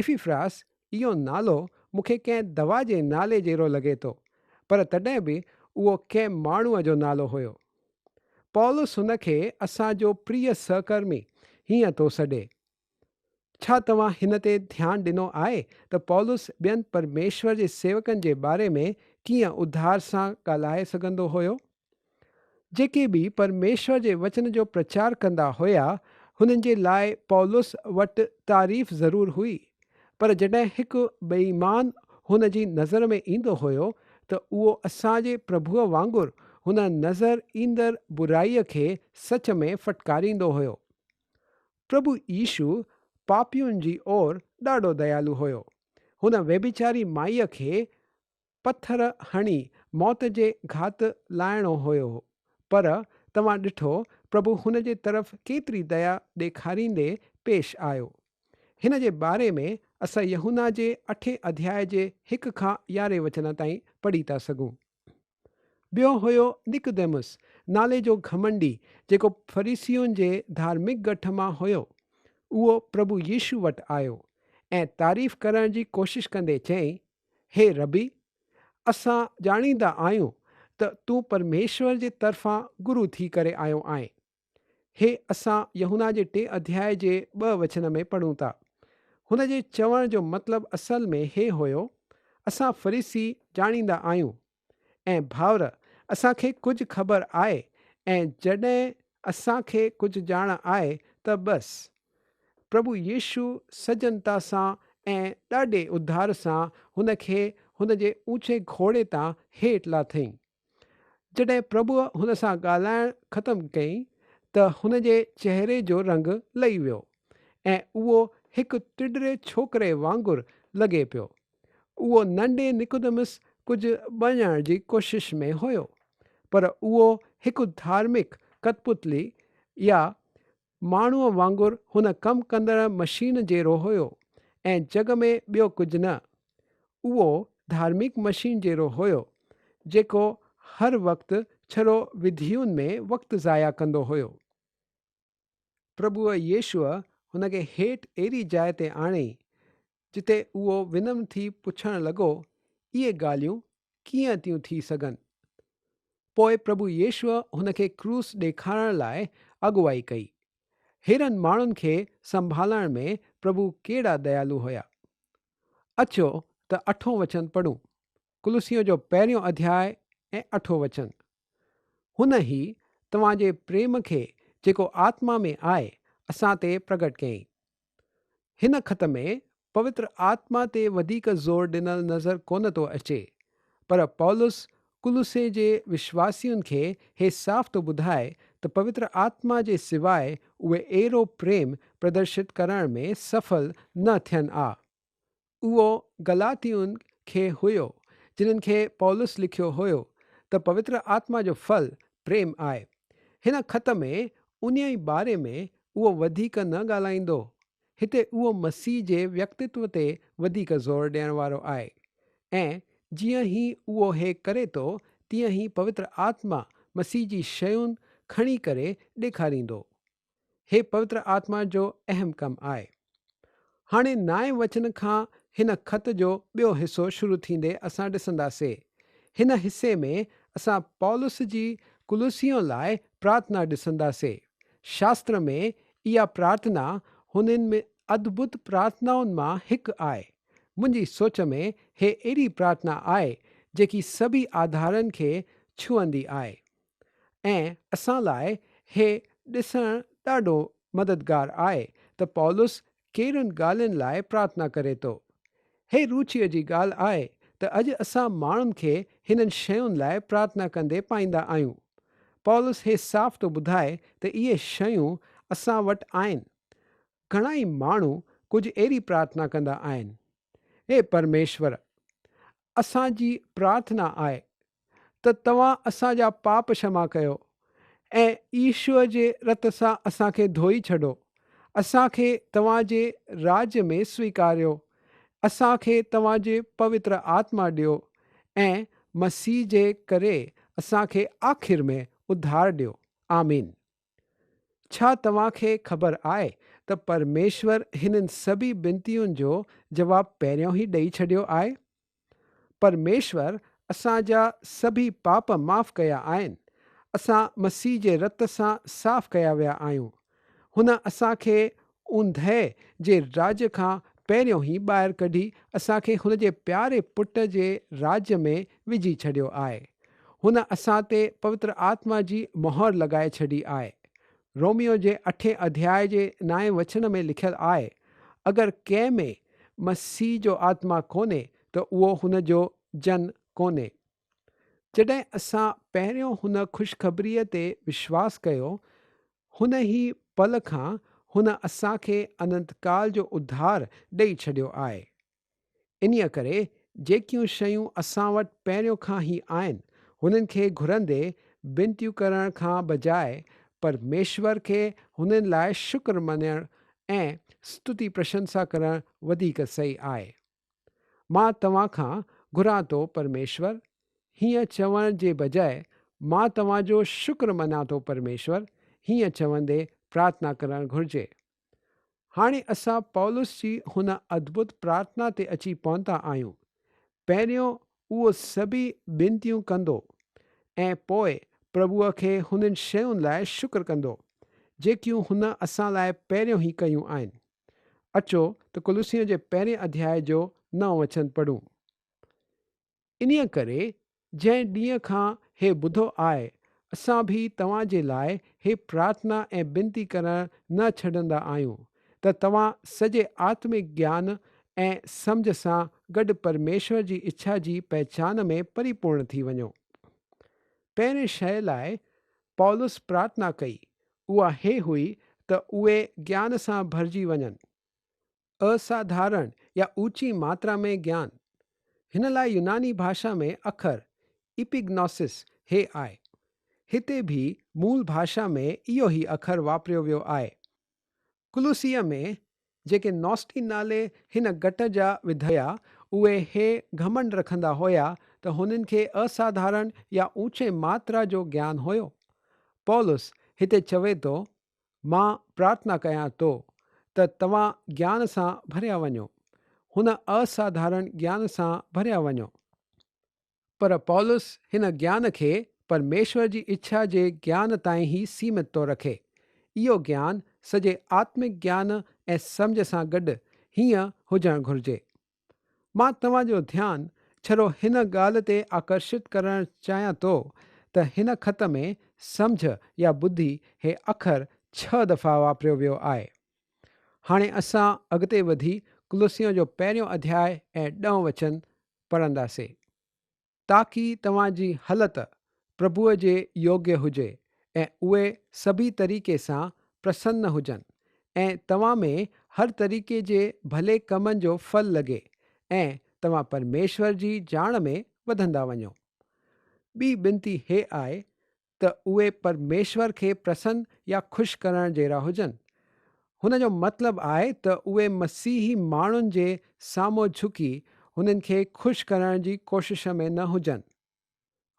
افيفراس، اهو نالو مون کي ڪنهن دوا جي نالي جهڙو لڳي ٿو، پر تڏهن به اهو ڪنهن ماڻهوء جو نالو هيو. پولس هن کي اسان جو پريء سهڪرمي هيئن ٿو سڏي. ڇا توهان هن تي ڌيان ڏنو آهي ته پولس ٻين پرميشور جي سيوڪن جي باري ۾ ڪيئن اڌار سان ڳالهائي سگهندو هيو؟ جيڪي به پرميشور جي وچن جو پرچار ڪندا هيا، هنن جي لاء پولس وٽ تعريف ضرور هئي، پر جڏهن هڪ بيايمان هن جي نظر ۾ ايندو هيو ته اهو اسان جي پرڀوء وانگر هن نظر ايندڙ برائيء کي سچ ۾ ڦٽڪاريندو هيو. پرڀو يسوع پاپين جي اور ڏاڍو ديالو هيو. هن ويڀچاري مائيء کي پٿر هڻي موت جي گهات لاهڻو هيو، پر توهان ڏٺو پرڀو هن جي طرف ڪيتري ديا ڏيکاريندي پيش آيو. هن جي باري ۾ اسان يحنا جي اٺين اڌياء جي هڪ کان يارهين وچن تائين پڙهي ٿا سگهون. ٻيو هيو نڪديمس نالي جو گهمنڊي جيڪو فريسين جي ڌارمڪ ڳٺ مان هيو. اهو پرڀو يسوع وٽ آيو ۽ تعريف ڪرڻ جي ڪوشش ڪندي چيائين، هي ربي! اسان ڄاڻيندا آهيون ته تون پرميشور جي طرفان گرو ٿي ڪري آيو آهين. هي اسان يحنا جي ٽئين اڌياء جي ٻه وچن ۾ پڙهون ٿا. هن جي چوڻ جو مطلب اصل ۾ هي هيو، اسان فريسي ڄاڻيندا آهيون ۽ ڀائر اسان کي ڪجهه خبر آهي ۽ جڏهن اسان کي ڪجهه ڄاڻ آهي ته بس پرڀو يسوع سجنتا سان ۽ ڏاڍي اڌار سان هن کي هن جي اوچي گهوڙي تان هيٺ لاٿئين. جڏهن پرڀوء هن سان ڳالهائڻ ختم ڪئي ته هن جي چهري جو رنگ لهي ويو ۽ اهو هڪ ٽڊري ڇوڪري وانگر لڳي پيو. اهو ننڍي نڪودمس ڪجهه بڻجڻ جي ڪوشش ۾ هيو، پر اهو هڪ ڌارمڪ ڪتپتلي يا ماڻهوء وانگر هن ڪم ڪندڙ مشين جيرو هيو ۽ جڳ ۾ ٻيو ڪجهه نه. اهو ڌارمڪ مشين جيرو هيو، جيڪو هر وقت ڇرو وڌيون ۾ وقت ضايع ڪندو هيو. پرڀوء يسوع هن کي هيٺ اهڙي جاء تي آڻي، جتي اهو ونم ٿي پڇڻ لڳو، اهي ڳالهيون ڪيئن ٿيون ٿي سگهن؟ پوء پرڀو يسوع هن کي ڪروس ڏيکارڻ لاء اڳواهي ڪئي. هيرن ماڻهن کي سنڀالڻ ۾ پرڀو ڪهڙا ديالو هيا. اچو ته اٺون وچن پڙهون. ڪلسيون جو پهريون اڌياء ۽ اٺون وچن. هن هي توهان جي پريم کي جيڪو آتما ۾ آء اسان تي پرگهٽ ڪيائين. هن خط ۾ پوتر آتما تي وڌيڪ زور ڏنل نظر ڪونه ٿو اچي، پر پولس ڪلسي جي وشواسين کي هي صاف ٿو ٻڌائي ته پوتر آتما جي سواء اهي اهڙو پريم پردرشت ڪرڻ ۾ سڦل نه ٿين آ. اهو گلاتيون کي هيو جنھن کي پولس لکيو هيو ته پوتر آتما جو ڦل پريم آهي. هن خط ۾ انھيء ئي باري ۾ اهو وڌيڪ نه ڳالھائيندو. هتي اهو مسيح جي ويڪتتو تي وڌيڪ زور ڏيڻ وارو آهي ۽ جيئن هي اهو هي ڪري ٿو تيئن هي پوتر آتما مسيح جي شيون کڻي ڪري ڏيکاريندو هي پوتر آتما جو اهم ڪم آهي. هاڻي نائين وچن کان هن خط جو ٻيو حصو شروع ٿيندي اسان ڏسنداسي. هن حصي ۾ اسان پولس جي ڪلوسيون لاء پرارٿنا ڏسنداسي. شاستر ۾ اها پرارٿنا هنن ۾ ادڀت پرارٿنائن مان هڪ آهي. منهنجي سوچ ۾ هي اهڙي پرارٿنا آهي جيڪي سڀئي آڌارن کي ڇهندي آهي. ۽ اسان لاء هي ڏسڻ ڏاڍو مددگار آهي ته پولس ڪهڙين ڳالهين لاء پرارٿنا ڪري ٿو. هي روچيء جي ڳالهه آهي ته اڄ اسان ماڻهن کي هنن شين لاء پرارٿنا ڪندي پائيندا آهيون. پولس هي صاف ٿو ٻڌائي ته اهي شيون اسان وٽ آهن. گهڻائي ماڻهو ڪجهه اهڙي پرارٿنا ڪندا آهن، اي پرميشور! اسان جي پرارٿنا آهي ته توهان اسان جا پاپ شمع ڪيو ۽ عيسوء جي رت سان اسان کي ڌوئي ڇڏو. اسان کي توهان جي راڄ ۾ سويڪاريو. اسان کي توهان جي پوتر آتما ڏيو ۽ مسيح جي ڪري اسان کي آخر ۾ اڌار ڏيو. آمين. ڇا توهان کي خبر آهي ته پرميشور هنن سڀيئي بنتين جو جواب پهريون ئي ڏئي ڇڏيو آهي؟ پرميشور اسان جا سڀيئي پاپ معاف ڪيا آهن. اسان مسيح جي رت سان صاف ڪيا ويا آهيون. هن اسان کي اوندهه جي راڄ کان پهريون ئي ٻاهر ڪڍي اسان کي هن جي پياري پٽ جي راڄ ۾ وجهي ڇڏيو آهي. هن اسان تي پوتر آتما جي مهر لڳائي ڇڏي آهي. روميو جي اٺين اڌياء جي نائين وچن ۾ لکيل آهي، اگر ڪنهن ۾ مسيح جو آتما ڪونهي ته اهو هن جو جن ڪونهي. جڏهن اسان پهريون هن خوشخبريء تي وشواس ڪيو، هن ئي پل کان هن اسان کي انتڪال جو اڌار ڏئي ڇڏيو آهي. انهيء ڪري جيڪيون شيون اسان وٽ پهريون کان ئي آهن، هنن کي گهرندي بنتيون ڪرڻ کان بجاء پرميشور کي هنن لاء شڪر مڃڻ ۽ ستتي پرشنسا ڪرڻ وڌيڪ صحيح آهي. مان توهان کان گهران ٿو پرميشور هيئن چوڻ جي بجاء مان توهان جو شڪر مڃان ٿو پرميشور هيئن چوندي پرارٿنا ڪرڻ گهرجي. هاڻي اسان پولس جي هن ادڀت پرارٿنا تي اچي پهتا آهيون. پهريون اهو سڀيئي ٻنتيون ڪندو ۽ پوء پرڀوء کي هنن شين لاء شڪر ڪندو، جيڪيون هن اسان لاء پهريون ئي ڪيون آهن. اچو ته ڪلسيون جي پهرين اڌياء جو نئون وچن پڙهون. انهيء ڪري جنهن ڏينهن کان هي ٻڌو آء، اسان به توهان جي لاء هي پرارٿنا ۽ بنتي ڪرڻ نه ڇڏندا آهيون ته توهان سڄي آتمڪ گيان ۽ سمجهه سان گڏ پرميشور جي اڇا جي پهچان ۾ پريپورڻ ٿي وڃو. پهرين شيء لاء پولس پرارٿنا ڪئي، اها هي هئي ته اهي گيان سان ڀرجي وڃن. اساڌارڻ يا اوچي ماترا ۾ گيان. هن لاء يوناني ڀاشا ۾ اکر Epignosis هي آهي. هتي به مول ڀاشا ۾ اهو ئي اکر واپريو ويو آهي. ڪلوسيه ۾ جيڪي نوسٽين نالي هن گٽ جا وڌيا، اهي هي گهمنڊ رکندا هيا ته هنن کي اساڌارڻ يا اوچي ماترا جو گيان هيو. پولس هتي چوي ٿو، مان پرارٿنا ڪيان ٿو ته توهان گيان سان ڀريا وڃو، هن اساڌارڻ گيان سان ڀريا وڃو. پر پولس هن گيان کي پرميشور جي اڇا جي گيان تائين ئي سيمت ٿو رکي. اهو گيان سڄي آتمڪ گيان ۽ سمجهه سان گڏ هيئن هجڻ گهرجي. مان توهان جو ڌيان ڇڙو هن ڳالهه تي آڪرشت ڪرڻ چاهيان ٿو ته هن خط ۾ سمجهه يا ٻڌي هي اکر ڇهه دفعا واپريو ويو آهي. هاڻي اسان اڳتي وڌي ڪلوسيون جو پهريون اڌياء ۽ ڏهون وچن پڙهنداسين، تاڪي توهان جي هلت پرڀوء جي يوگيه هجي ۽ اهي سڀيئي طريقي سان پرسن هجن ۽ توهان ۾ هر طريقي جي ڀلي ڪمن جو ڦل لڳي ۽ توهان پرميشور جي ڄاڻ ۾ وڌندا وڃو. ٻي بنتي هيء آهي ته اهي پرميشور کي پرسن يا خوش ڪرڻ جهڙا هجن. هن جو مطلب آهي ته اهي مسيحي ماڻهن جي سامهون جهڪي هنن کي خوش ڪرڻ جي ڪوشش ۾ نه هجن.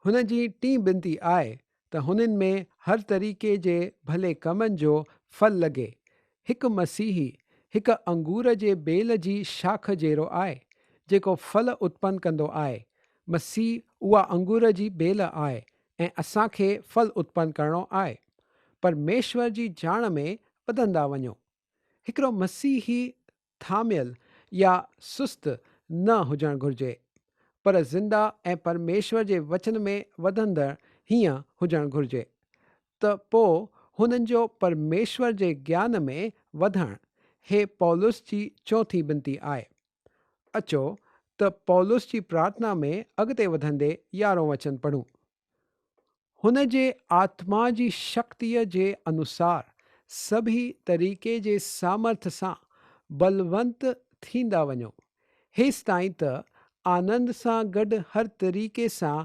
هن جي ٽين بنتي آهي ته هنن ۾ هر طريقي جي ڀلي ڪمن جو ڦل لڳي. هڪ مسيحي هڪ انگور جي ٻيل جي شاخ جهڙو آهي، جيڪو ڦل اتپن ڪندو آهي. مسيح اها انگور جي ٻيل آهي، ۽ اسان کي ڦل اتپن ڪرڻو آهي پرميشور جي ڄاڻ ۾ وڌندا وڃو. هڪڙو مسيحي ٿاميل يا سست نه هجڻ گهرجي پر زنده ۽ پرميشور جي وچن ۾ وڌندڙ هيئن هجڻ گهرجي ته پوء هنن جو پرميشور جي گيان ۾ وڌڻ هي پولس جي چوٿين بنتي آهي. اچو ته پولس جي پرارٿنا ۾ اڳتي وڌندي يارهون وچن پڙهون. هن جي آتما جي شڪتيء جي انوسار سڀيئي طريقي جي سامرٿ سان بلونت ٿيندا وڃو، هيستائين ته آنند سان گڏ هر طريقي سان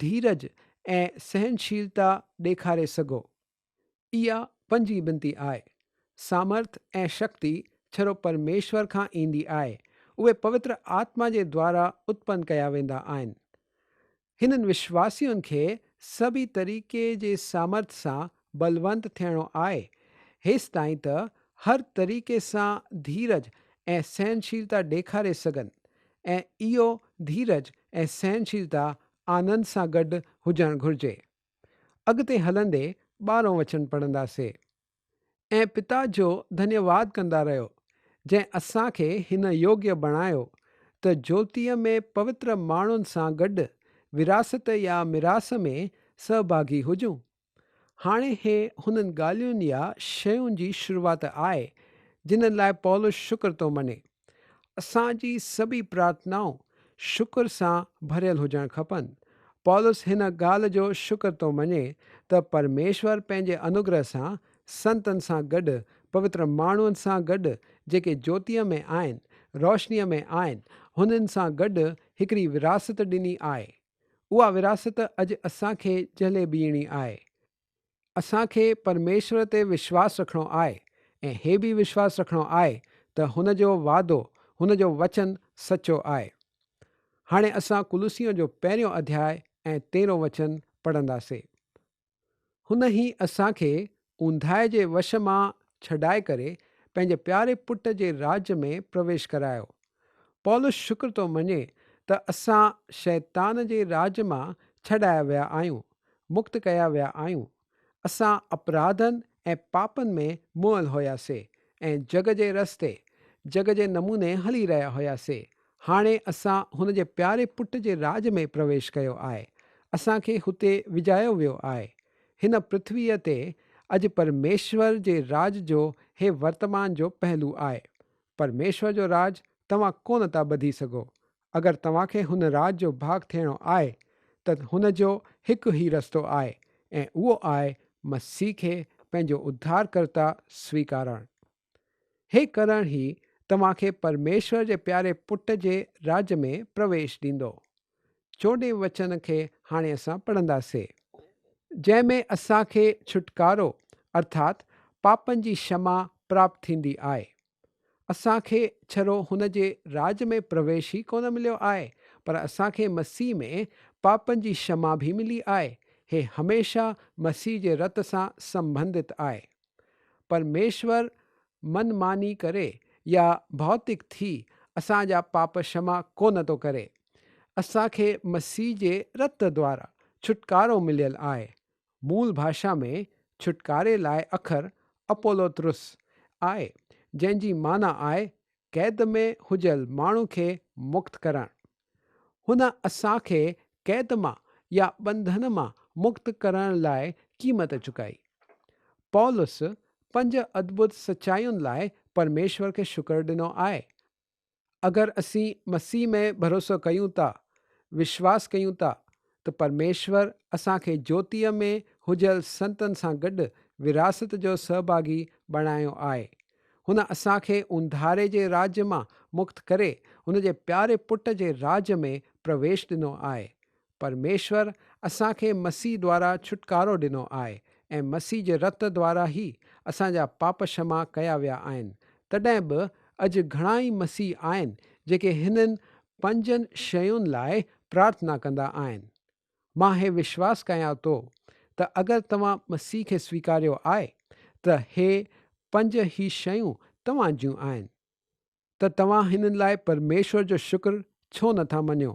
ڌيرج ۽ سهنشيلتا ڏيکاري سگهو. اها پنجين بنتي آهي. سامرٿ ۽ شڪتي ڇرو پرميشور کان ايندي آهي. اهي پوتر آتما جي دوارا اتپن ڪيا ويندا آهن. هنن وشواسين کي سڀئي طريقي جي سامرٿ سان بلونت ٿيڻو آهي. هيستائين ته هر طريقي سان ڌيرج ۽ سهنشيلتا ڏيکاري سگهن ۽ اهو ڌيرج ۽ سهنشيلتا آنند سان گڏ هجڻ گهرجي. اڳتي هلندي ٻارهون وچن پڙهندا سي ۽ پتا جو ڌنيواد ڪندا رهيو جنهن اسان کي هن يوگيه بڻايو ته جوتيء ۾ پوتر ماڻهن سان گڏ وراثت يا ميراث ۾ سهڀاگي هجون. هاڻي هي هنن ڳالهين يا شين جي شروعات آهي جنهن لاء پولس شڪر ٿو مڃي. اسان جي سڀئي پرارٿنائون شڪر سان ڀريل هجڻ کپن. پولس هن ڳالهه جو شڪر ٿو مڃي ته پرميشور پنهنجي انوگره سان سنتن سان گڏ پوتر ماڻهن سان گڏ جيڪي جوتيء ۾ آهن، روشنيء ۾ آهن، هنن سان گڏ هڪڙي ورهاست ڏني آهي. اها ورهاست اڄ اسان کي جهلي بيهڻي آهي. اسان کي پرميشور تي وشواس رکڻو آهي ۽ هي به وشواس رکڻو آهي ته هن جو وعدو، هن جو وچن سچو آهي. هاڻي اسان ڪلوسيون جو پهريون اڌياء ۽ تيرهون وچن پڙهنداسي. هن هي اسان کي اونداهي جي وش مان ڇڏائي ڪري پنهنجي پياري پٽ جي راڄ ۾ پرويش ڪرايو پولس شڪر ٿو مڃي ته اسان شيطان جي راڄ مان ڇڏايا ويا آهيون، مڪت ڪيا ويا آهيون. اسان اپراڌن ۽ پاپن ۾ موئل هيا سي ۽ جڳ جي رستي، جڳ جي نموني هلي رهيا هيا سي. هاڻي اسان هن جي پياري پٽ جي راڄ ۾ پرويش ڪيو آهي. اسان کي هتي وجهايو ويو آهي. هن پرٿويء تي اڄ پرميشور جي راڄ جو هي ورتمان جو پهلو آهي. پرميشور جو راڄ توهان ڪونه ٿا ٻڌي سگهو. اگر توهان کي هن راڄ جو ڀاڳ ٿيڻو آهي ته هن جو هڪ ئي رستو آهي ۽ اهو آهي مسيح کي پنهنجو اڌارڪرتا سويڪارڻ. هي ڪرڻ ئي توهان کي پرميشور جي پياري پٽ جي راڄ ۾ پرويش ڏيندو. چوڏهين وچن کي هاڻي اسان پڙهنداسي، جنهن ۾ اسان کي ڇوٽڪارو ارٿات پاپن جي شمع پراپت ٿيندي آهي. اسان کي ڇرو هن جي راڄ ۾ پرويش ئي ڪونه مليو آهي، پر اسان کي مسيح ۾ پاپن جي شمع به ملي آهي. هي هميشه مسيح جي رت سان سنبنڌت آهي. پرميشور من ماني ڪري يا ڀوتڪ ٿي اسان جا پاپ شما ڪونه ٿو ڪري. اسان کي مسيح جي رت دوارا ڇوٽڪارو مليل آهي. مول ڀاشا ۾ ڇوٽڪاري لاء اکر اپولوتروس آهي جنهن جي معنيٰ آهي قيد ۾ هجل ماڻهو کي مڪت ڪرڻ. هن اسان کي قيد مان يا ٻنڌڻ مان مڪت ڪرڻ لاء قيمت چڪائي. پولس پنج ادڀت سچاين لاء پرميشور کي شڪر ڏنو آهي. اگر اسين مسيح ۾ ڀروسو ڪيون ٿا، وشواس ڪيون ٿا، ته پرميشور اسان کي جوتيء ۾ هجيل سنتن سان گڏ وراثت جو سهڀاڳي بڻايو آهي. هن اسان کي اونداهري جي راڄ مان مڪت ڪري هن جي پياري پٽ جي راڄ ۾ پرويش ڏنو آهي. پرميشور اسان کي مسيح دوارا ڇوٽڪارو ڏنو آهي ۽ مسيح جي رت دوارا ئي اسان جا پاپ شما ڪيا ويا آهن. تڏهن به اڄ گهڻا ئي مسيحي آهن جيڪي هنن پنجن شين لاء پرارٿنا ڪندا آهن. مان هي وشواس ڪيان ٿو ته اگر توهان مسيح کي سويڪاريو آهي ته هي پنج هي شيون توهان جون آهن ته توهان هنن لاء پرميشور جو شڪر ڇو نٿا مڃيو؟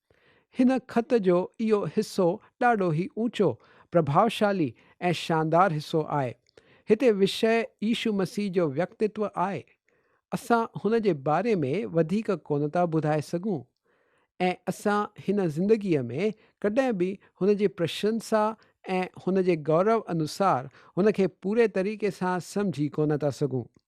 هن خط جو اهو حصو ڏاڍو ئي اوچو، پرڀاوشالي ۽ شاندار حصو آهي. هتي وشيه عيشو مسيح جو ويڪتتو آهي. اسان هن جي باري ۾ وڌيڪ ڪونه ٿا ٻڌائي سگهون ۽ اسان هن زندگيء ۾ ڪڏهن به هن جي پرشنسا ۽ هن جي گورو انوسار هن کي پوري طريقي سان سمجهي ڪونه ٿا سگهون.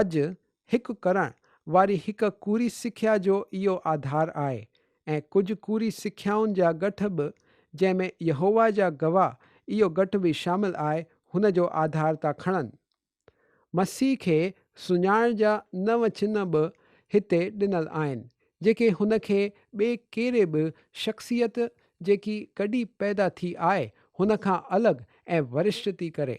اڄ هڪ ڪرڻ واري هڪ ڪوري سکيا جو اهو آڌار آهي ۽ ڪجهه ڪوري سکيائن جا ڳٺ به جنهن ۾ يهوه جا گواهه اهو ڳٺ به شامل آهي هن جو آڌار ٿا کڻن. مسيح کي سڃاڻڻ جا نو چنهن به هتي ڏنل آهن جيڪي هن کي ٻي ڪهڙي به شخصيت جيڪي ڪڏهن پيدا ٿي آهي هن کان الڳ ۽ ورشٽ ٿي ڪري.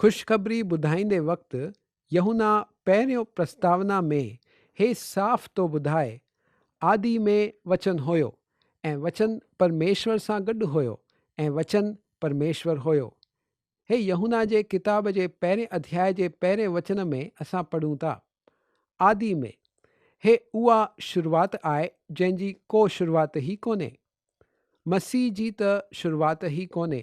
خوشخبري ٻڌائيندي وقت يحنا پهريون پرستاونا ۾ هي صاف ٿو ٻڌائي، آدي ۾ وچن هيو، ۽ وچن پرميشور سان گڏ هيو، ۽ وچن پرميشور هيو. هي يحنا جي ڪتاب جي پهرين اڌياء جي پهرين وچن ۾ اسان پڙهون ٿا، آدي ۾. هي اها شروعات آهي جنهن جي ڪو شروعات ئي ڪونهي. مسيح جي ته شروعات ئي ڪونهي،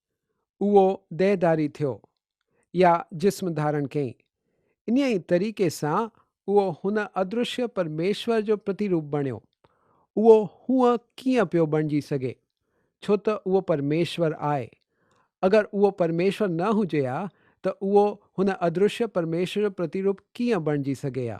اهو ديهداري ٿيو يا جسم ڌارڻ ڪيئي. انهيء ئي طريقي سان اهو هن ادرشيه پرميشور جو پرتيروپ بڻيو. اهو هونء ڪيئن پيو بڻجي سگهي؟ ڇو ته اهو پرميشور آهي. اگر اهو پرميشور نه هجي ها ته اهو هن ادرشيه پرميشور جو پرتيروپ ڪيئن بڻجي سگهي ها؟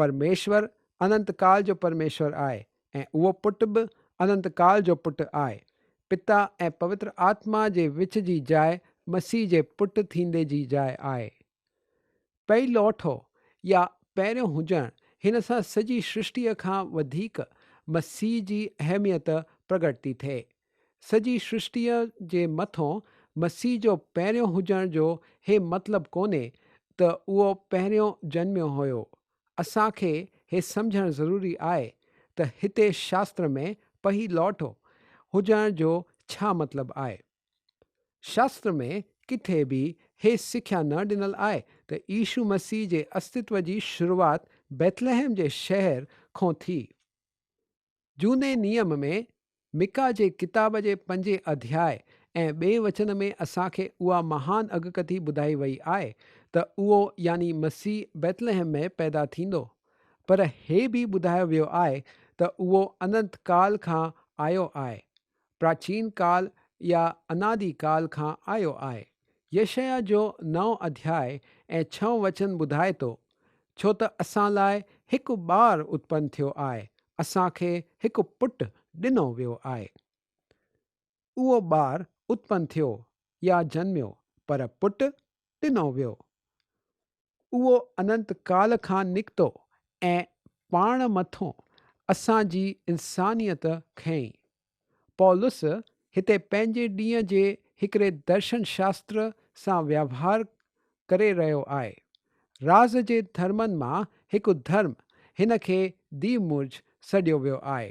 پرميشور اننت ڪال جو پرميشور آهي ۽ اهو پٽ به اننت ڪال جو پٽ آهي. پتا ۽ پوتر آتما جي وچ جي جاء مسيح جي پٽ ٿيندي جي جاء آهي. پيلوٺو يا پهريون هجڻ هن سان سڄي سرشٽيء کان وڌيڪ مسيح جي اهميت پرگٽ ٿي ٿئي. سڄي سرشٽيء جي مٿون مسيح جو پهريون هجڻ جو هي مطلب ڪونهي ته اهو پهريون جنميو هيو. اسان کي هي سمجهڻ ضروري آهي ته هتي شاستر ۾ پهي لوٽو هجڻ جو ڇا مطلب آهي. شاستر ۾ ڪٿي به هي سکيا نه ڏنل آهي ته عيشو مسيح جي استتو جي شروعات بيتلحم جي شهر کون ٿي. جهوني نيم ۾ مڪا جي ڪتاب جي پنجين اڌياء ۽ ٻئين وچن ۾ اسان کي اها مهان اڳڪٿي ٻڌائي وئي آهي ته اهو يعني مسيح بيتلحم ۾ پيدا ٿيندو. پر هي به ٻڌايو ويو آهي ته اهو اننت ڪال کان آيو آهي پراچين ڪال يا انادي ڪال کان آيو آهي. يشعيا جو نئون اڌياء ۽ ڇهون وچن ٻڌائي ٿو، ڇو ته اسان لاء هڪ ٻار اتپن ٿيو آهي، اسان کي هڪ پٽ ڏنو ويو آهي. اهو ٻار اتپن ٿيو يا جنميو، پر پٽ ڏنو ويو. اهو اننت ڪال کان نڪتو ۽ پاڻ مٿون اسان جي انسانيت کنئي. پولس هتي پنهنجي ڏينهن جي هڪڙي درشن شاستر سان ويوهار ڪري رهيو آهي. راز جي ڌرمن مان هڪ ڌرم هن کي ديومرج سڏيو ويو آهي.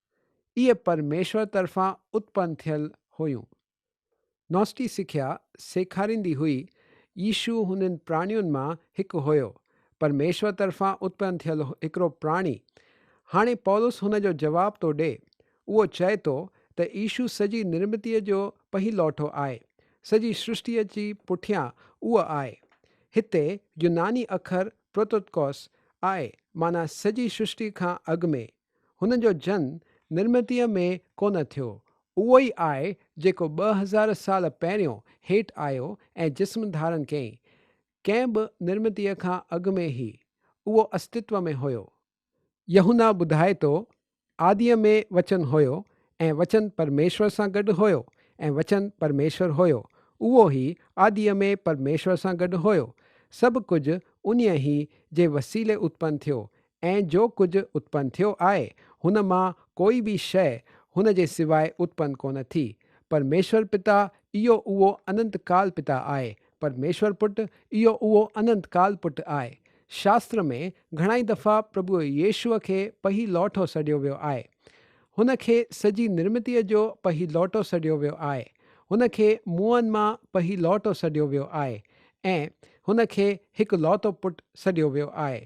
اهي پرميشور طرفان اتپن ٿيل هيون. نوسٽي سکيا سيکاريندي هئي يشوع هنن پراڻين مان هڪ هيو، پرميشور طرفان اتپن ٿيل هڪڙو پراڻي. هاڻي پولس هن جو جواب ٿو ڏي. اهو چئي ٿو ته يشوع سڄي نرمتيء جو پهيلوٺو آهي، سڄي سرشتيء جي پٺيان اهو آهي. هتي يوناني اکر Prototokos آهي، معنيٰ سڄي سرشتي کان اڳ ۾، هن جو جن نرمتيء ۾ ڪونه ٿيو، اهو ئي آء جيڪو ٻه هزار سال پهريون هيٺ آيو ۽ جسم ڌارن ڪيائين، ڪنهن به نرمتيء کان اڳ ۾ هي، اهو استتو ۾ هيو. يوحنا ٻڌائي ٿو، آديء ۾ وچن هيو، ۽ وچن پرميشور سان گڏ هيو، ۽ وچن پرميشور هيو. اهو هي آديء ۾ پرميشور سان گڏ هيو. سڀ ڪجهه انهيء هي جي وسيلي اتپن ٿيو، ۽ جو ڪجهه اتپن ٿيو آهي هن مان ڪوئي به شيء هن جي سواء اتپن ڪونه ٿي. پرميشور پتا اهو اهو اننت ڪال پتا آهي. پرميشور پٽ اهو اهو اننت ڪال پٽ آهي. شاستر ۾ گهڻائي دفعا پرڀوء ييشوء کي پهي لوٺو سڏيو ويو آهي. هن کي سڄي نرمتيء جو پهي لوٽو سڏيو ويو آهي. هن کي موئن مان پهي لوٽو سڏيو ويو آهي ۽ هن کي هڪ لوتو پٽ سڏيو ويو آهي.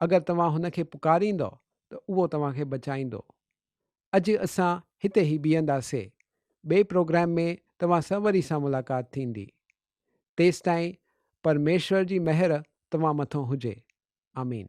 اگر توهان هن کي پڪاريندؤ ته اهو توهان کي بچائيندو. اڄ اسان هتي ئي بيهنداسين. ٻئي پروگرام ۾ توهان سان وري سان ملاقات ٿيندي. تيستائين پرميشور جي مهر توهان مٿان هجي. آمين.